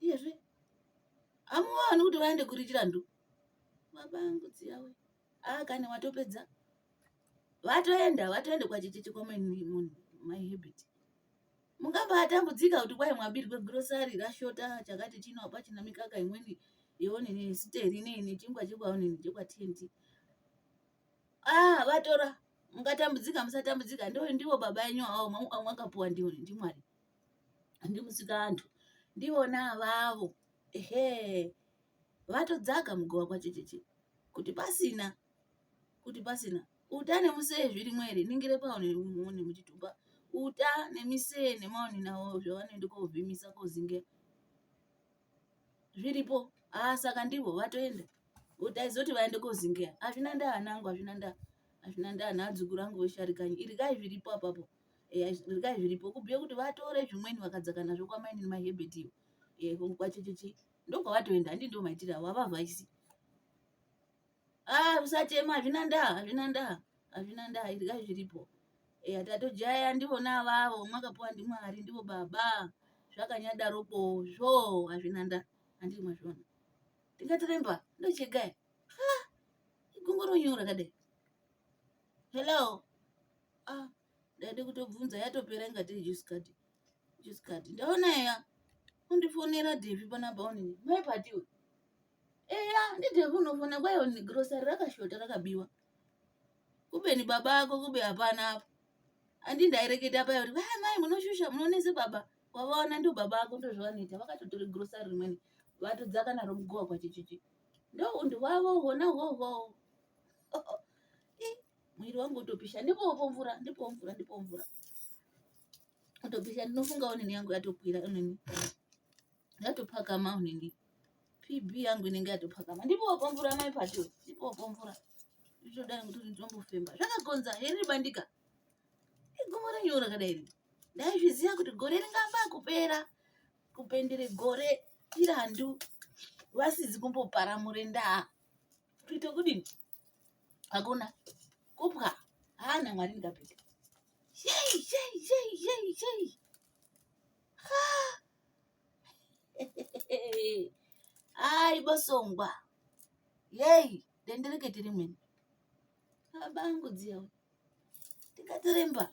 iyezve amuvaoni kuti vaende kuri chirandu baba angu dziyawe aa kani watopedza vatoenda vatoenda kwachichichi kwamainmunhu my habit mungambatambudzika kuti kwai mwabirwe grosari rashota chakati chino hapachina mikaka imweni yeonini siteri neine chingwa chekwaonini chekwatenti ah vatora mungatambudzika musatambudzika ndo ndivo baba enyu awo mwakapuwa ndiwo ndimwari ndimusikantu ndivona avavo ehe vatodzaka mugova kwachecheche kuti pasina kuti pasina uta nemusee zvirimwo here ningire paone muchitupa uta nemisee nemaoni navo zvavanoenda kovhimisa kozinge zviripo haa saka ndivo vatoenda utaizoti vaende kozingeya hazvina ndaa anangu hazvina ndaa hazvina ndaa naadzukuru angu vesharikani irikai zviripo apapo eya regai zviripo kubhuye kuti vatore zvimweni vakadzaka nazvo kwamainini mahebert iyo e, kwachecheche ndokwavatoenda handi ndo maitire avo avavhaisi ah usachema hazvina ndaa hazvina ndaa hazvina ndaa regai zviripo eya tatojaya ndivona avavo mwakapuwa ndimwari ndivo baba zvakanyadaropo zvo hazvina ndaa handiri mazvona ndingatiremba ndochegai ha igongoronyora kadai hello ah ndaida kutobvunza yatopera inga tiri juice card juice card ndaona eya undifonera devi panapa unini mai patiwe eya ndidevi unofona kwayo ni grocery rakashota rakabiwa kubeni baba ako kube hapana apo andi ndaireketa paya kuti vaya mai munoshusha munonese baba wavaona ndo baba ako ndozvavanoita vakatotora grocery rimweni vatodzaka naro mugowa kwachichichi ndo undi wavo hona hwohwo mwiri wangu utopisha ndipopo mvura ndipopo mvura ndipopo mvura utopisha ndinofunga onini yangu yatokwira onini yatopakama onini pb yangu inenge yatopakama ndipopo mvura mai pato ndipopo mvura nditodai kuti nditombofemba zvakagonza heri bandika igomo renyuwo rakadai ri ndaizviziva kuti gore ringamba kupera kupendere gore irandu vasizi kumboparamure ndaa kuita kudini hakuna kubwa haana mwari ndikapeta yei yei yei yei yei ai bosongwa yei denderekete rimweni abangu dziyawo ndikatiremba